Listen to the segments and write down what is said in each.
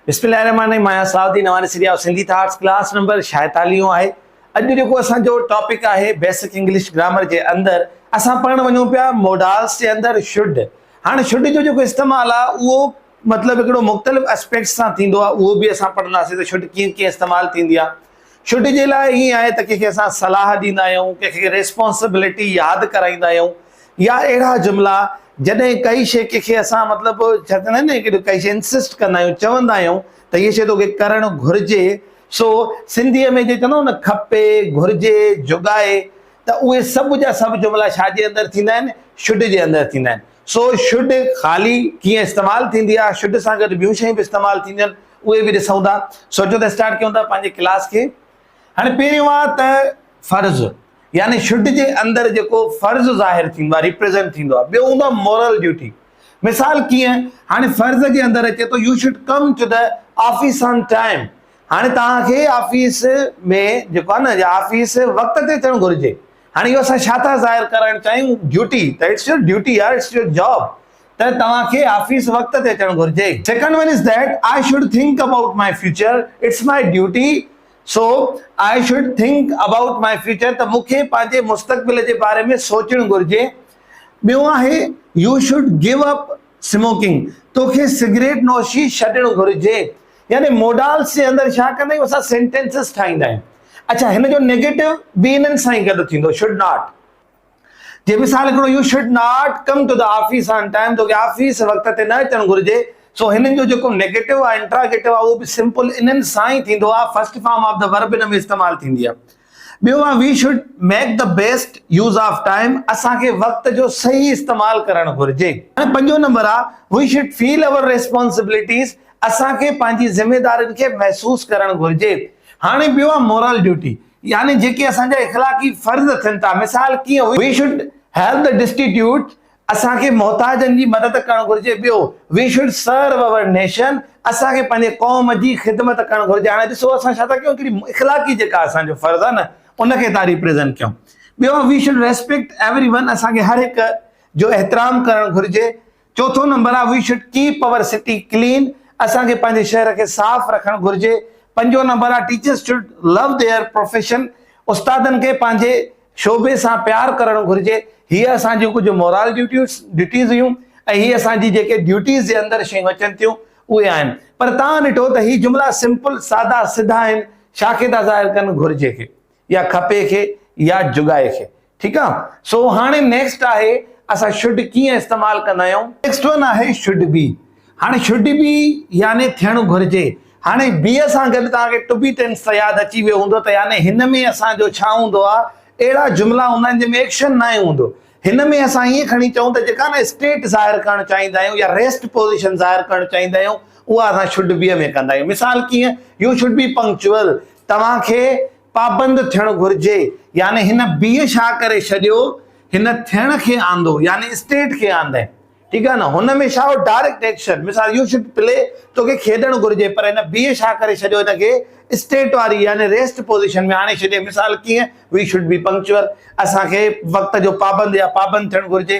بسم الله الرحمن الرحيم آهيان صلاح الدين اوهاني سريا سنڌي ٿاٽس ڪلاس نمبر شايتاليون آهي اڄ جيڪو اسان جو ٽاپڪ آهي بيسڪ انگلش گرامر جي اندر اسان پڙهڻ وڃون پيا موڊالس جي اندر شڊ هاڻ شڊ جو جيڪو استعمال آهي اهو مطلب هڪڙو مختلف اسپيڪٽس سان ٿيندو آهي اهو به اسان پڙهنداسين ته شڊ ڪيئن ڪيئن استعمال ٿيندي آهي ڇٽ جي لاء ائين آهي ته ڪنهن کي اسان صلاح ڏيندا آهيون، ڪنهن کي ريسپانسبلٽي ياد ڪرائيندا آهيون يا اهڙا جملا جڏهن ڪائي شيء ڪنهن کي اسان مطلب ڇا چوندا آهن نه ڪائي شيء انسسٽ ڪندا آهيون چوندا آهيون ته هيء شيء توکي ڪرڻ گهرجي سو سنڌيء ۾ جيئن چوندا آهيون نه کپي، گهرجي، جوڳائي ته اهي سڀ جا سڀ جملا ڇا جي اندر ٿيندا آهن ڇٽ جي اندر ٿيندا آهن. سو شھد خالي ڪيئن استعمال ٿيندي آ شھد سان گڏ ٻيون شيون به استعمال ٿينديون آھن اھي به ڏسون ٿا سو اچو ته اسٽارٽ ڪيون ٿا پنھنجي ڪلاس کي ھاڻي پھريون آ ته فرض يعني شھد جي اندر جيڪو فرض ظاھر ٿيندو آ ريپريزنٽ ٿيندو آ ٻيو ھوندو آ مورل ڊيوٽي مثال ڪيئن ھاڻي فرض جي اندر اچي ٿو you should come to the office on time ھاڻي توھان کي آفيس ۾ جيڪو آ نه آفيس وقت تي اچڻ گھرجي هاڻي اهو اسان ڇا ٿا ظاهر ڪرڻ چاهيون ڊيوٽي ته اٽس يور ڊيوٽي يار اٽس يور جاب ته توهان کي آفيس وقت تي اچڻ گهرجي second one is that I should think about my future it's my duty so I should think about my future ته مون کي پنهنجي مستقبل جي باري ۾ سوچڻ گهرجي ٻيون آهي you should give up smoking توکي سگريٽ نوشي ڇڏڻ گهرجي يعني موڊالس جي اندر ڇا ڪندا آهيون اسان سينٽينسز ٺاهيندا آهيون اڇا هن جو نيگيٽو به انهن سان ئي گڏ ٿيندو شوڊ ناٽ جي مثال هڪڙو you should not come to the office on time توکي آفيس وقت تي نه اچڻ گهرجي سو هنن جو جيڪو نيگيٽو آهي انٽراگيٽو آهي اهو به سمپل انهن سان ئي ٿيندو آهي first form of the verb ان ۾ استعمال ٿيندي آهي ٻيو آهي we should make the best use of time اسان کي وقت جو صحيح استعمال ڪرڻ گهرجي پنجون نمبر آهي we should feel our responsibilities اسان کي پنهنجي ذميدارين کي محسوس ڪرڻ گهرجي. هاڻي ٻيو آهي مورل ڊيوٽي يعني جيڪي اسان جا اخلاقي فرض ٿين ٿا مثال ڪيئن هئي we should help the destitute اسان کي محتاجن جي مدد ڪرڻ گهرجي ٻيو we should serve our nation اسان کي پنهنجي قوم جي خدمت ڪرڻ گهرجي هاڻي ڏسو اسان ڇا ٿا ڪيون هڪڙي اخلاقي جيڪا اسان جو فرض آهي نه ان کي ٿا ريپريزنٽ ڪيون ٻيو we should respect everyone اسان کي هر هڪ جو احترام ڪرڻ گهرجي چوٿون نمبر آ we should keep our city clean اسان کي پنهنجي شهر کي صاف رکڻ گهرجي. پنجون نمبر آ teachers should love their profession استادن کي پنهنجي شعبي سان پيار ڪرڻ گهرجي. هي اسان جون ڪجهه مورال ڊيوٽيز ڊيوٽيز هيون ۽ هي اسان جي جيڪي ڊيوٽيز جي اندر شيون اچن ٿيون اهي آهن پر توهان ڏٺو ته هي جملا سمپل سادا سڌا آهن شاکي ٿا ظاهر ڪن گهرجي کي يا کپي کي يا جڳائي کي ٺيڪ آ سو هاڻي نيڪسٽ آهي اسان شڊ ڪيئن استعمال ڪندا آهيون. نيڪسٽ ون آهي شڊ بي هاڻي شڊ بي يعني ٿيڻ گهرجي هاڻي بي سان گڏ توهان کي ٽو بي ٽينس ته ياد اچي ويو هوندو ته يعني هن ۾ اسان جو ڇا هوندو آ اهڙا جملا هوندا آهن جنهن ۾ ايڪشن ناهي هوندو هن ۾ اسان ائين کڻي چئون ته جيڪا نه اسٽيٽ ظاهر ڪرڻ چاهيندا آهيون يا ريسٽ پوزيشن ظاهر ڪرڻ چاهيندا آهيون اها اسان شڊ بي ۾ ڪندا آهيون مثال ڪيئن يو شڊ بي پنڪچوئل توهان کي پابند ٿيڻ گهرجي يعني هن بيء شا ڪري ڇڏيو هن ٿيڻ کي آندو يعني اسٽيٽ کي آندئين ٺيڪ آهي نه هن ۾ ڇا هو ڊائريڪٽ ايڪشن مثال يو شڊ پلي توکي کيڏڻ گهرجي پر هن بيء شا ڪري ڇڏيو هن کي اسٽيٽ واري يعني ريسٽ پوزيشن ۾ آڻي ڇڏي مثال ڪيئن وي شڊ بي پنڪچوئل اسان کي وقت جو پابند يا پابند ٿيڻ گهرجي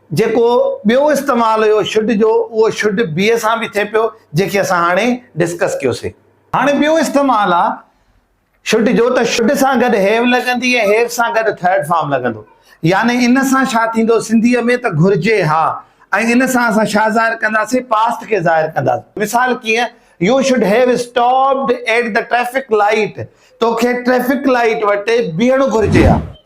جيڪو ٻيو استعمال هيو شڊ جو اهو شڊ بيء سان به ٿئي پيو جنهن کي اسان هاڻي ڊسڪس ڪيوسي. هاڻي ٻيو استعمال آ شڊ جو ته شڊ سان گڏ هيو لڳندي ۽ هيو سان گڏ ٿرڊ فارم لڳندو يعني ان سان ڇا ٿيندو سنڌيء ۾ ته گهرجي ها ۽ ان سان اسان ڇا ظاهر ڪنداسين پاسٽ کي ظاهر ڪنداسين مثال ڪيئن you should have stopped at the traffic light توکي ٽريفڪ لائيٽ وٽ بيهڻو گهرجي ها.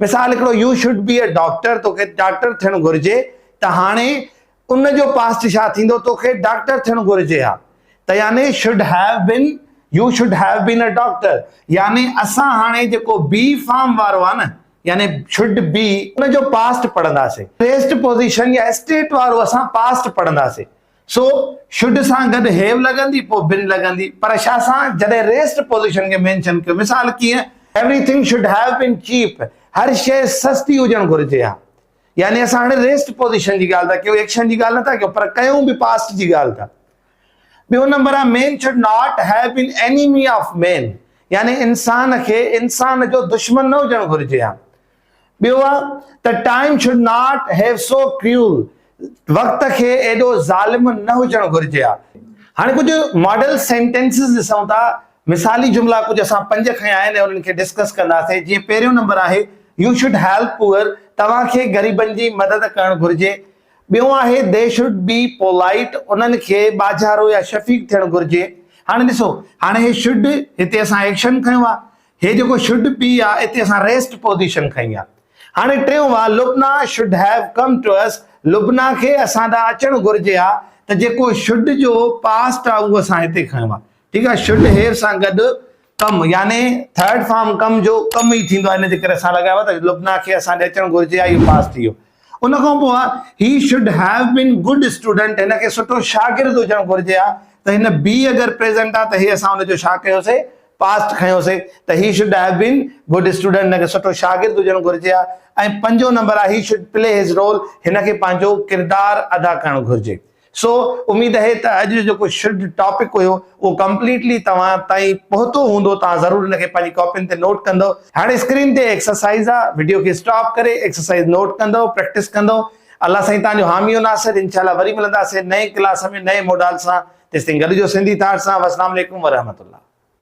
مثال هڪڙو you should be a doctor توکي ڊاڪٽر ٿيڻ گهرجي ته هاڻي ان جو پاسٽ ڇا ٿيندو توکي ڊاڪٽر ٿيڻ گهرجي ها ته يعني should have been you should have been a doctor يعني اسان هاڻي جيڪو بي فارم وارو آهي نه يعني شوڊ بي ان جو پاسٽ پڙهنداسين پريسٽ پوزيشن يا اسٽيٽ وارو اسان پاسٽ پڙهنداسين سو شڊ سان گڏ هيو لڳندي پوء بن لڳندي پر شا سان جڏهن ريسٽ پوزيشن کي مينشن ڪيو مثال ڪيئن everything should have been cheap هر شيء سستي هجڻ گهرجي ها يعني اسان هاڻي ريسٽ پوزيشن جي ڳالهه ٿا ڪيون ايڪشن جي ڳالهه نٿا ڪيون پر ڪيون به پاسٽ جي ڳالهه ٿا ٻيو نمبر آهي man should not have been enemy of man يعني انسان کي انسان جو دشمن نه هجڻ گهرجي ها ٻيو آ ته time should not have so cruel, وقت کي ايڏو ظالم نه هجڻ گهرجي آ. هاڻي ڪجهه ماڊل سينٽينسز ڏسون ٿا، مثالي جملا ڪجهه اسان پنج کنيا آهن ۽ انهن کي ڊسڪس ڪنداسين، جيئن پهريون نمبر آهي، يو شوڊ هيلپ پوئر، توهان کي غريبن جي مدد ڪرڻ گهرجي. ٻيون آهي، دي شوڊ بي پولائيٽ، انهن کي ٻاجهارو يا شفيق ٿيڻ گهرجي. هاڻي ڏسو، هاڻي هي شوڊ هتي اسان ايڪشن کنيو آ، هي جيڪو شڊ بي آ اتي اسان ريسٽ پوزيشن کنئي آ. هاڻي ٽيون وار Lubna should have come to us Lubna کي اسان ڏانهن اچڻ گهرجي ها ته جيڪو شڊ جو پاسٽ آ اهو اسان هتي کنيو آ ٺيڪ آ شڊ هيو سان گڏ ڪم يعني ٿرڊ فارم ڪم جو ڪم ئي ٿيندو آ ان جي ڪري اسان لڳايو آ ته لبنا کي اسان ڏي اچڻ گهرجي ها اهو پاسٽ ٿي ويو. ان کان پوء he should have been good student هن کي سٺو شاگرد هجڻ گهرجي ها ته هن بي اگر پريزنٽ آ ته هي اسان ان جو ڇا ڪيوسي پاسٽ کنيوسي ته he should have been good student هن کي سٺو شاگرد هجڻ گهرجي ها ۽ پنجون نمبر آ he should play his role هن کي پنهنجو ڪردار ادا ڪرڻ گهرجي سو اميد اهي ته اڄ جو جيڪو شڊ ٽاپڪ هيو اهو ڪمپليٽلي توهان تائين پهتو هوندو توهان ضرور ان کي پنهنجي ڪاپين تي نوٽ ڪندو هاڻي اسڪرين تي ايڪسرسائز آ وڊيو کي اسٽاپ ڪري ايڪسرسائز نوٽ ڪندو پريڪٽس ڪندو الله سائين توهان جو حامي و ناصر انشاء الله وري ملنداسين نئين ڪلاس ۾ نئين موڊال سان تيستائين گڏجو سنڌي ٿاٽ سان وسلام عليڪم ورحمت الله.